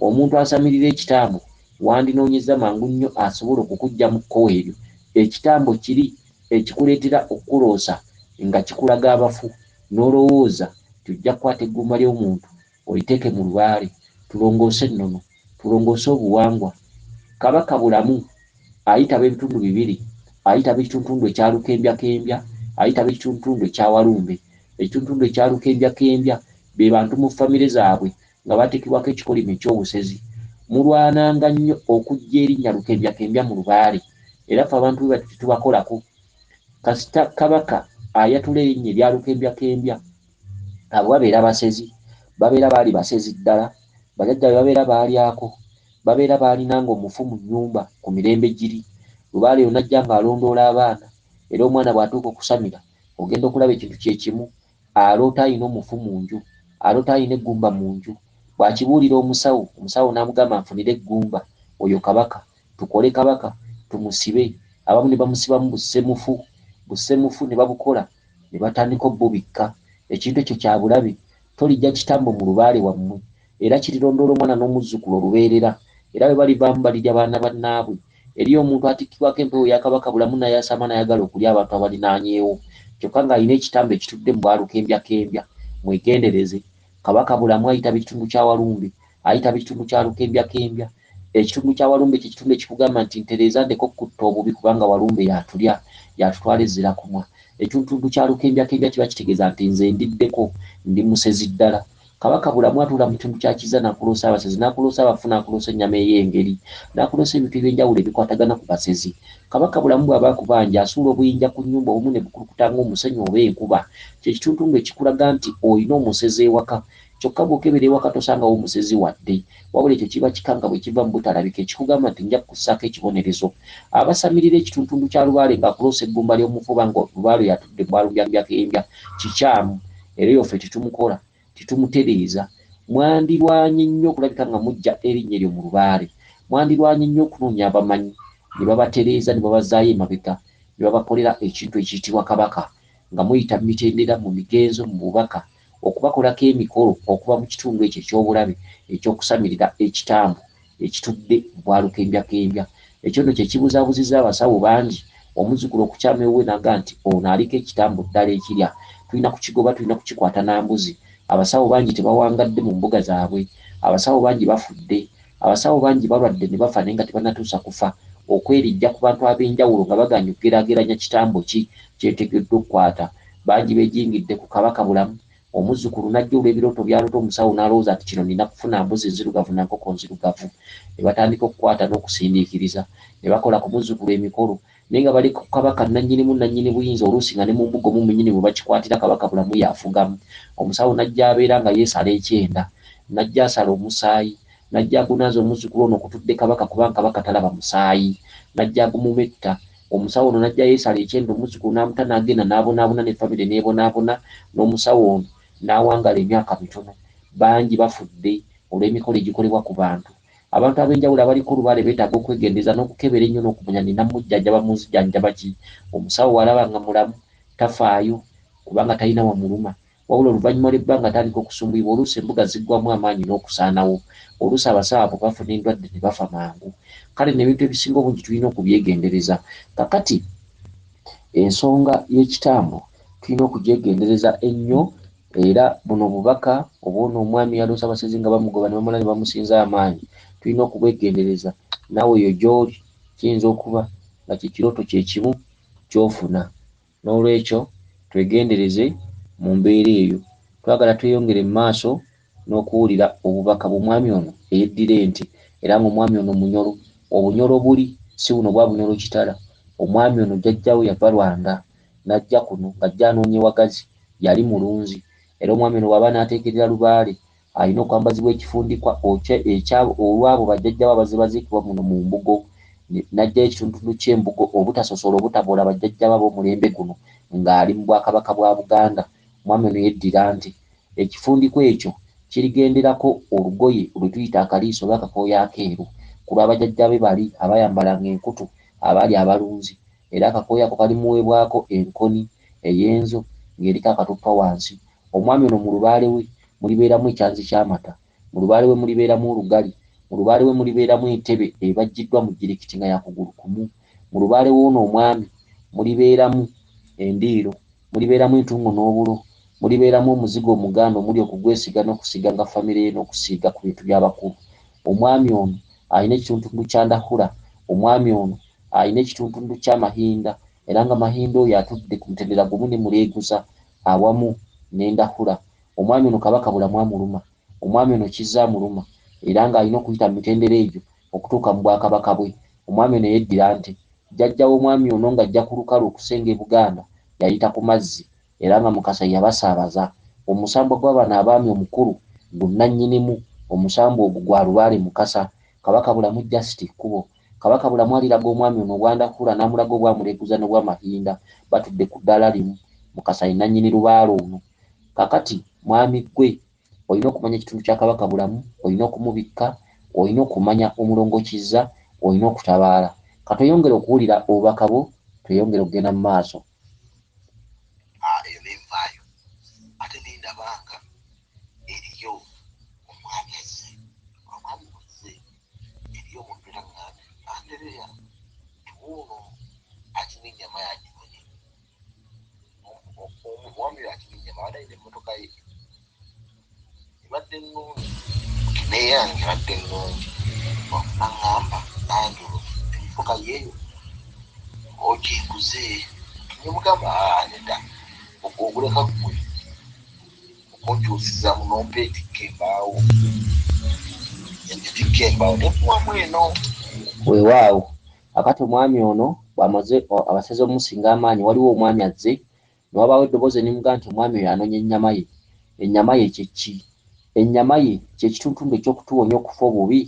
omuntu asamirira ekitambo wandinoonyezza mangu nnyo asobola okukujja mu kkowe eryo. Ekitambo kiri ekikuleetera okukuloosa nga kikulaga abafu n'olowooza nti ojja kukwata eggumba ly'omuntu oliteeke mu lubaale. Tulongoose ennono. Tulongoose obuwangwa. Kabaka Bulamu ayitaba ebitundu bibiri, ayitaba ekituntundu ekya Lukembyakembya, ayitaba ekituntundu ekya Walumbe. Ekituntundu ekya Lukembyakembya be bantu mu famire zaabwe nga bateekebwako ekikolimo eky'obusezi. Mulwananga nnyo okuggya erinnya Lukembyakembya mu lubaale era ffe abantu bwe batyo tetubakolako. Kasita Kabaka ayatula erinnya erya Lukembyakembya, Abo babeera basezi. Babeera baali basezi ddala. Bajajja be babeera baalyako. Babeera baalinanga omufu mu nnyumba ku mirembe giri. Lubaale oyo n'ajja ng'alondoola abaana. Era omwana bw'atuuka okusamira, ogenda okulaba ekintu kye kimu. Aloota alina omufu mu nju. Aloota alina eggumba mu nju. Bw'akibuulira omusawo, omusawo n'amugamba anfunire eggumba. Oyo Kabaka. Tukole Kabaka tumusibe. Abamu ne bamusibamu bussemufu bussemufu ne babukola ne batandika obubikka. Ekintu ekyo kya bulabe. Toliggya kitambo mu lubaale wammwe, era kirirondoola omwana n'omuzzukulu olubeerera. Era bwe balivaamu balirya baana bannaabwe. Eriyo omuntu atikkibwako empewo ya Kabaka bulamu n'ayasaama n'ayagala okulya abantu abalinaanyeewo, kyokka ng'alina ekitambo ekitudde mu ba Lukembyakembya. Mwegendereze. Kabaka bulamu ayita bitundu kya Walumbe, ayita bitundu kya Lukembyakembya. Ekitundu kya Walumbe kye kitundu ekikugamba nti ntereeza ndeka okukutta obubi kubanga Walumbe y'atulya, y'atutwala e Zirakumwa. Ekituntuntu kya Lukembjakembya kiba kitegeeza nti nze ndiddeko, ndi musezi ddala. Kabaka Bulamu atuula mu kitundu kya Kizza n'akuloosa abasezi, n'akuloosa abafu, n'akuloosa ennyama ey'engeri, n'akuloosa ebintu eby'enjawulo ebikwatagana ku basezi. Kabaka Bulamu bw'aba akubanja, asuula obuyinja ku nnyumba obumu ne bukulukuta ng'omusenyu oba enkuba. Kye kituntundu ekikulaga nti olina omusezi ewaka Kyokka bw'okebera ewaka tosangawo musezi wadde. Wabula ekyo kiba kika nga bwe kiva mu butalabika ekikugamba nti nja kukussaako ekibonerezo. Abasamirira ekituntuntu kya lubaale ng'akuloosa eggumba ly'omufu oba nga lubaale oyo atudde bwalumbyalumbyakeyembya kikyamu era oyo ffe tetumukola, tetumutereeza. Mwandirwanye nnyo okulabika nga muggya erinnya eryo mu lubaale. Mwandirwanye nnyo okunoonya abamanyi ne babatereeza ne babazzaayo emabega ne babakolera ekintu ekiyitibwa Kabaka nga muyita mu mitendera, mu migenzo, mu bubaka, okubakolako emikolo okuva mu kitundu ekyo eky'obulabe eky'okusamirira ekitambo ekitudde bwa lukembyakembya. Ekyo nno kye kibuzaabuzizza abasawo bangi, omuzzukulu okukyama ewuwe n'agamba nti, Ono aliko ekitambo ddala ekirya. Tulina kukigoba, tulina kukikwata na mbuzi. Abasawo bangi tebawangadde mu mbuga zaabwe. Abasawo bangi bafudde. Abasawo bangi balwadde ne bafa naye nga tebannatuusa kufa, okweriggya ku bantu ab'enjawulo nga bagaanyi okugeraageranya kitambo ki kyetegeddwa okukwata. Bangi beejingidde ku Kabaka bulamu, omuzzukulu n'ajja olw'ebirooto by'aloota omusawo n'alowooza nti kino nnina kufuna mbuzi nzirugavu na nkoko nzirugavu ne batandika okukwata n'okusindiikiriza ne bakola ku muzzukulu emikolo Naye nga bali ku Kabaka nnannyinimu, nnannyini buyinza, oluusi nga ne mu mbuga omwo mwennyini mwe bakikwatira, Kabaka Bulamu y'afugamu. Omusawo n'ajja abeera nga yeesala ekyenda, n'ajja asala omusaayi, n'ajja agunaaza omuzzukulu ono kutudde Kabaka kubanga Kabaka talaba musaayi, n'ajja agumumetta. Omusawo ono n'ajja yeesala ekyenda omuzzukulu n'amuta n'agenda n'abonaabona ne famire n'ebonaabona n'omusawo ono n'awangaala emyaka mitono. Bangi bafudde olw'emikolo egikolebwa ku bantu. Abantu ab'enjawulo abaliko olubaale beetaaga okwegendereza n'okukebera ennyo n'okumanya nti namujjanjaba mu nzijanjaba ki. Omusawo bw'alaba nga mulamu tafaayo kubanga talina wamuluma. Wabula oluvannyuma lw'ebbanga atandika okusumbuyibwa oluusi embuga ziggwaamu amaanyi n'okusaanawo. Oluusi abasawo abo bafuna endwadde ne bafa mangu. Kale nno ebintu ebisinga obungi tulina okubyegendereza. Kaakati ensonga y'ekitambo tulina okugyegendereza ennyo. Era buno bubaka obw'ono omwami eyaloose abasezi nga bamugoba ne bamala ne bamusinza amaanyi. Tulina okubwegendereza. Naawe eyo gy'oli kiyinza okuba nga kye kirooto kye kimu ky'ofuna. N'olwekyo twegendereze mu mbeera eyo. Twagala tweyongere mu maaso n'okuwulira obubaka bw'omwami ono eyeddira ente era nga omwami ono Munyoro. Obunyoro obuli si buno obwa Bunyoro Kitara. Omwami ono jjajjaawe yava Rwanda. n'ajja kuno ng'ajja anoonya ewagazi. Yali mulunzi. Era omwami ono bw'aba anaateekerera lubaale, alina okwambazibwa ekifundikwa okya, ekya, olw'abo bajjajja be abazze baziikibwa muno mu mbugo, ne, n'aggyayo ekitundutundu ky'embugo, obutasosola, obutaboola bajjajja be ab'omulembe guno, nga ali mu Bwakabaka bwa Buganda. Omwami ono yeddira nti, Ekifundikwa ekyo kirigenderako olugoye lwe tuyita akaliiso oba akakooyi akeeru, ku lwa bajajja be bali abaayambalanga enkutu, abaali abalunzi. era akakooyi ako kalimuweebwako enkoni ey'enzo ng'eriko akatuttwa wansi. Omwami ono mu lubaale we mulibeeramu ekyanzi ky'amata, mu lubaale we mulibeeramu olugali, mu lubaale we mulibeeramu entebe ebajjiddwa mu jjirikiti nga ya kugulu kumu, mu lubaale w'ono omwami mulibeeramu endiiro, mulibeeramu entungo n'obulo, mulibeeramu omuzigo omuganda omuli okugwesiiga n'okusiiga nga famire ye n'okusiiga ku bintu by'abakulu. Omwami ono alina ekitundutundu kya ndahura, omwami ono alina ekituntundu kya Mahinda era nga Mahinda oyo atudde ku mutendera gumu ne Muleeguza awamu ne Ndahura. Omwami ono Kabaka bulamu amuluma. Omwami ono Kizza amuluma era nga alina okuyita mu mitendera egyo okutuuka mu Bwakabaka bwe. Omwami ono eyeddira Nte. Jjajja w'omwami ono nga ajja ku lukalu okusenga e Buganda yayita ku mazzi era nga Mukasa ye yabasaabaza. Omusambwa gwa bano abaami omukulu gu nnannyinimu omusambwa ogwo gwa Lubaale Mukasa. Kabaka bulamu Just Kkubo. Kabaka Bulamu aliraga omwami ono obwanda hhula n'amulaga obwa Muleguza n'obwa Mahinda batudde ku ddaala limu. Mukasa ye nnannyini lubaale ono. Kaakati mwami ggwe olina okumanya ekitundu kya Kabaka Bulamu, olina okumubikka, olina okumanya Omulongo Kizza, olina okutabaala. Ka tweyongere okuwulira obubaka bwo tweyongere okugenda mu maaso. Aah eyo ne nvaayo ate ne ndaba nga eriyo omwami azze. Omwami bw'azze Eriyo omuntu era ŋŋambye nti, Andereya, tuwe ono akima ennyama y'agiwone. Omu, omu, omwami oyo akima ennyama abadde alina emmotoka ye. Ebadde nnungi. N'eyange ebadde nnungi. N'aŋŋamba, Angelo, emmotoka yo eyo ogiguze? Ne mmugamba, Aa, nedda, ogwo oguleka ggwe. Okuntuusizamu n'ompa etikka embaawo, ne ngitikka embaawo ne nkuwamu eno. Weewaawo, kaakati omwami ono bw'amaze, o, abasaze okumusinga amaanyi, waliwo omwami azze, ne wabaawo eddoboozi ne limugamba nti omwami oyo anoonya ennyama ye. Ennyama ye kye ki? Ennyama ye kye kituntundu eky'okutuwonya okufa obubi,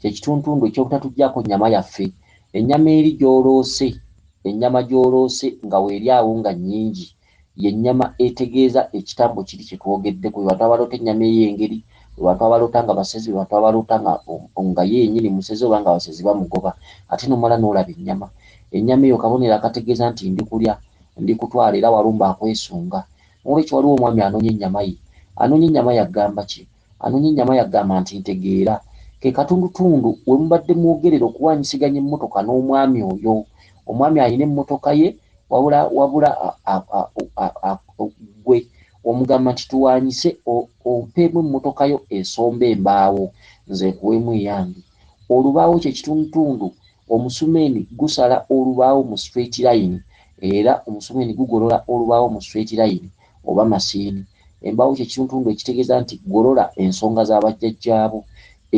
kye kituntundu eky'obutatuggyaako nnyama yaffe. Ennyama eri gy'oloose, ennyama gy'oloose nga weeri awo nga nnyingi. Ye nnyama etegeeza ekitambo kiri kye twogeddeko. Bwe batwaba loota ennyama ey'engeri, bwe batwaba loota nga basezi, bwe batwaba loota nga, nga ye yennyini musezi oba nga basezi bamugoba, ate n'omala n'olaba ennyama. Ennyama eyo kabonero akategeeza nti ndi kulya, ndi kutwala era walumbe akwesunga. N'olwekyo waliwo omwami anoonya ennyama ye. Anoonya ennyama ye agamba ki? Anoonya ennyama yagamba nti ntegeera ke katundutundu we mubadde mwogerera okuwaanyisiganya emmotoka n'omwami oyo. Omwami alina emmotoka ye wabula wabula ggwe omugamba nti tuwaanyise ompeemu emmotoka yo esomba embaawo nze nkuweemu eyange. Olubaawo kye kitundutundu, omusumeeni gusala olubaawo mu straight layini era omusumeeni gugolola olubaawo mu straight layini oba masiini. Embaawo kye kituntundu ekitegeeza nti golola ensonga za bajjajjaabo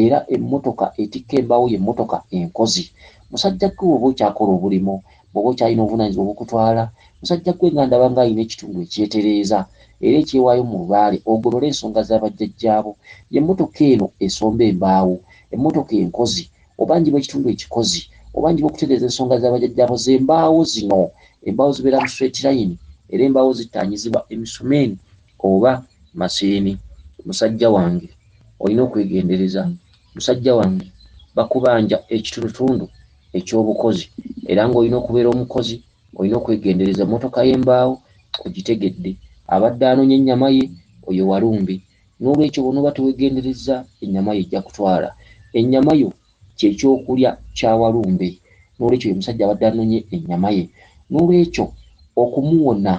era emmotoka etikka embaawo ye mmotoka enkozi. Musajja ggwe bw'oba okyakola obulimu, bw'oba okyalina obuvunaanyizibwa obukutwala, musajja ggwe nga ndaba nga alina ekitundu ekyetereeza era ekyewaayo mu lubaale ogolole ensonga za bajjajjaabo, ye mmotoka eno esomba embaawo, emmotoka enkozi, obanjibwa ekitundu ekikozi obanjibwa okutegeeza ensonga za bajajjaabo z'embaawo zino embaawo zibeera mu swetirayini era embaawo zittaanyizibwa emisumeeni oba masiini musajja wange olina okwegendereza musajja wange bakubanja ekitundutundu eky'obukozi era ng'olina okubeera omukozi olina okwegendereza emmotoka y'embaawo ogitegedde abadde anoonya ennyama ye oyo walumbe N'olwekyo bw'onooba teweegenderezza, ennyama yo ejja kutwala. Ennyama yo kye kyokulya kya walumbe. N'olwekyo oyo omusajja abadde anonye ennyama ye. N'olwekyo okumuwona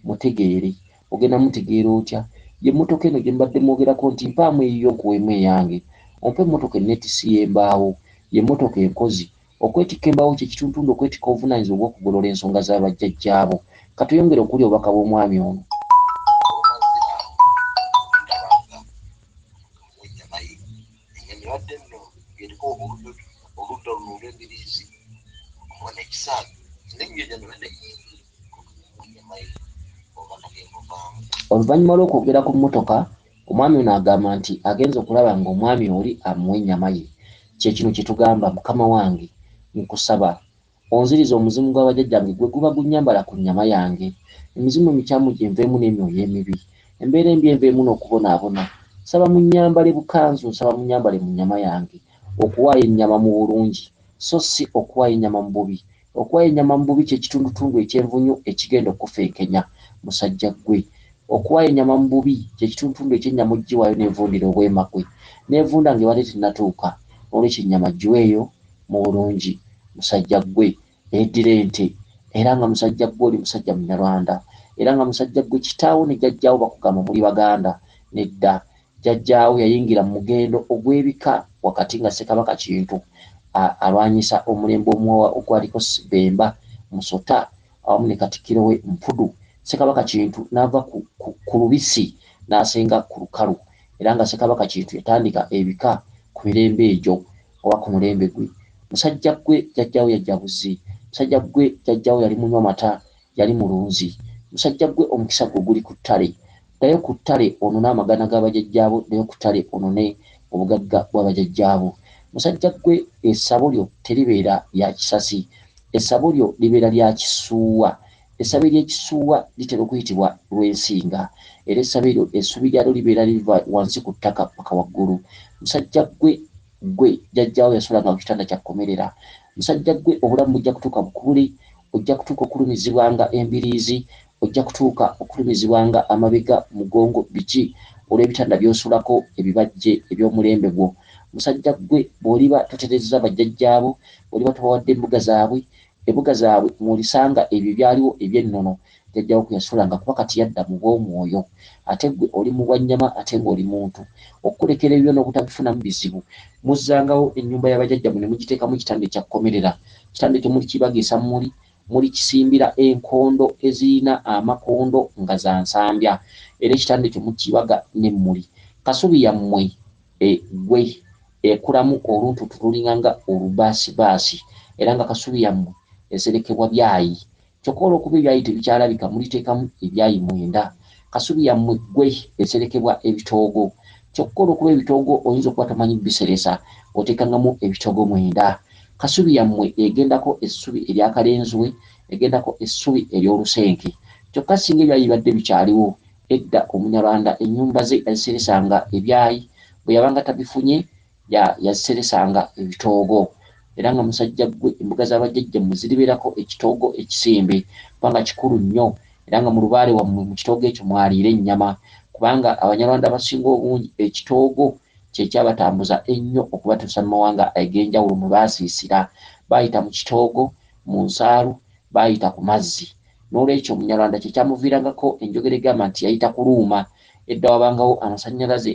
mutegeere. Ogenda mutegeera otya? Ye mmotoka eno gye mubadde mwogerako nti mpaamu eyiyo nkuweemu eyange. Ompe mmotoka enneetissi y'embaawo. Ye mmotoka enkozi. Okwetikka embaawo kye kituntundu okwetikka obuvunaanyizibwa obw'okugolola ensonga za bajjajjaabo. Ka tweyongere okuwulira obubaka bw'omwami ono. Oluvannyuma lw'okwogera ku mmotoka, Omwami ono agamba nti agenze okulaba nga omwami oli amuwa enyama ye, kyekino kyetugamba mukama wange nkusaba onzirize omuzimu gwa bajajjange gweguba gunyambala ku nyama yange, emizimu emikyamu gyenveemu n'emyoyo emibi, embeera embi enveemu n'okubonaabona, nsaba munyambale bukanzu, nsaba munyambale mu nyama yange, okuwaayo enyama mu bulungi so ssi okuwaayo enyama mu bubi. Okuwa ennyama mu bubi kye kitundutundu ekyenvunyu ekigenda okukufeekenya, musajja ggwe. Okuwa ennyama mu bubi kye kitundutundu eky'ennyama ogiwaayo n'evundira obwema kwe, n'evunda ng'ebadde tennatuuka. N'olwekyo ennyama giweeyo mu bulungi, musajja ggwe. Eddira ente. Era nga musajja ggwe oli musajja Munyarwanda. Era nga musajja ggwe kitaawo ne jjajjaawo bakugamba muli Baganda. Nedda. Jjajjaawe yayingira mu mugendo ogw'ebika wakati nga Ssekabaka Kintu alwanyisa omulembe omuwawa ogwaliko Bemba, Musota awamu ne Katikkiro we Mpudu. Ssekabaka Kintu n'ava ku lubisi n'asenga ku lukalu era nga Ssekabaka Kintu yatandika ebika ku mirembe egyo oba ku mulembe gwe. Musajjaggwe Jjajjaawo yajja buzzi. Musajjaggwe Jjajjaawo yali munywa mata yali mulunzi. Musajja gwe omukisa gwo guli ku ttale. Ddayo ku ttale onone amagana ga bajajjaabo, ddayo ku ttale onone obugagga bwa bajajjaabo. Musajja gwe essabo lyo teribeera lya kisasi. Essabo lyo libeera lya kisuuwa. Essabo ery'ekisuuwa litera okuyitibwa Lwensinga. Era essabo eryo essubi lyalyo libeera liva wansi ku ttaka paka waggulu. Musajja gwe! Gwe jajja wo yasulanga kukitanda kya komerera musajja gwe obulamu bujja kutuuka bukubule ojja kutuuka okulumizibwanga embiriizi ojja kutuuka okulumizibwanga amabega mugongo biki olwebitanda byosulako ebibajje ebyomulembe gwo musajja gwe bwoliba toterezza bajjajja bo oliba tobawadde mbuga zabwe ebuga zabwe mwolisanga ebyo ebyaliwo ebyennono Jjajja wo kuyasulanga kuba kati yadda mu bw'omwoyo ate ggwe oli mu bwa nnyama ate ng'oli muntu. Okukulekera ebibyo n'obutabifunamu bizibu. Muzzangawo ennyumba ya bajajjamwe ne mugiteekamu ekitanda ekya kkomerera. Ekitanda ekyo mulikibagiisa mmuli, mulikisimbira enkondo ezirina amakondo nga za nsambya era ekitanda ekyo mukibaga n'emmuli. Kasubi yammwe e gwe ekulamu oluntuutu lulinga nga olubaasibaasi era nga kasubi yammwe eserekebwa byayi Kyokka olw'okuba ebyali tebikyalabika muliteekamu ebyayi mwenda. Kasubi ya mmwe ggwe eserekebwa ebitoogo. Kyokka olw'okuba ebitoogo oyinza okuba tomanyi biseresa, oteekangamu ebitoogo mwenda. Kasubi ya mmwe egendako essubi erya kalenzwe, egendako essubi ery'olusenke. Kyokka singa ebyayi bibadde bikyaliwo, edda Omunyarwanda ennyumba ze yaziseresanga ebyayi bwe yabanga tabifunye, Ya, yaziseresanga ebitoogo. Era nga, musajja ggwe, embuga za bajjajjammwe ziribeerako ekitoogo ekisimbe, kubanga kikulu nnyo. Era nga mu lubaale wammwe, mu kitoogo ekyo mwaliira ennyama. Kubanga, Abanyarwanda abasinga obungi, ekitoogo kye kyabatambuza ennyo okubatuusa mu mawanga ag'enjawulo mwe baasiisira. Baayita mu kitoogo, mu nsaalu, baayita ku mazzi. N'olwekyo, Omunyarwanda kye kyamuviirangako enjogera egamba nti yayita ku luuma. Edda wabangawo amasanyalaze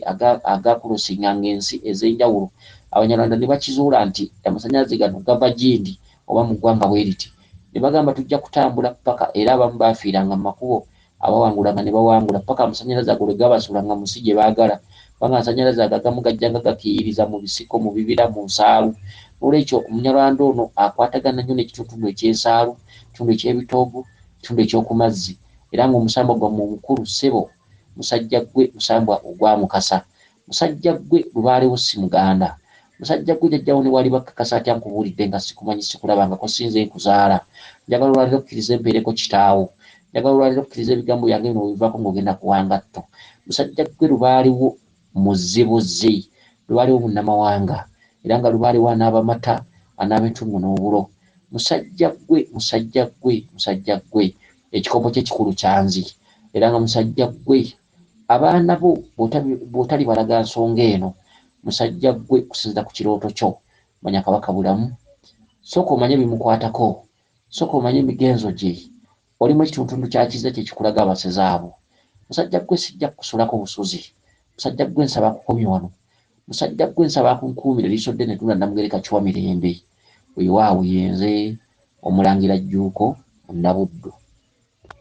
agakulosinganga ensi ezenjawulo abanyarwanda nebakizuula nti amasanyalaze gano gava gindi oba mu ggwanga bweriti nebagamba tujja kutambula paka era abamu bafiiranga mu makubo abawangulanga nebawangula paka amasanyalaze ago lwegabasuulanga mu nsi gyebagala kubanga amasanyalaze ago agamu gajjanga gakiiyiriza mu bisiko mu bibira mu nsaalu nolwekyo omunyarwanda ono akwatagana nnyo nekituntundu ekyensaalu ekitundu ekyebitoogo Ekitundu eky'oku mazzi. Era nga omusambwa gwammwe omukulu, ssebo, musajja ggwe, musambwa ogwa Mukasa. Musajja ggwe, lubaale wo si muganda. Musajja ggwe, jajja wo ne bw'aliba akkakasa atya nkubuulidde nga ssikumanyi, ssikulabangako, ssi nze nkuzaala. Njagala olwaleero okkirize mpeereko kitaawo. Njagala olwaleero okkirize ebigambo byange bino bwe bivaako ng'ogenda kuwa ngatto. Musajja ggwe, lubaale wo. Muzzibuzzi, lubaalewo munnamawanga, era nga lubaalewo anaaba amata, anaaba entungo n'obulo. Musajja ggwe, musajja ggwe, musajja ggwe, ekikopo kye ekikulu kyanzi, era nga musajja ggwe, abaana bo bw'otalibalaga nsonga eno, musajja ggwe, okusinziira ku kirooto kyo, manya Kabaka bulamu. Sooka omanye ebimukwatako, sooka omanye emigenzo gye, Olimu ekituntundu kya kize kye kikulaga abasezi abo. Musajja gwe sijja kukusulako busuzi. Musajja gwe nsaba akukomye wano. Musajja gwe nsaba akunkuumire liiso ddene Ddunda Namugereka Chwa Mirembe. Weewaawo ye nze Omulangira Jjuuko Munnabuddu.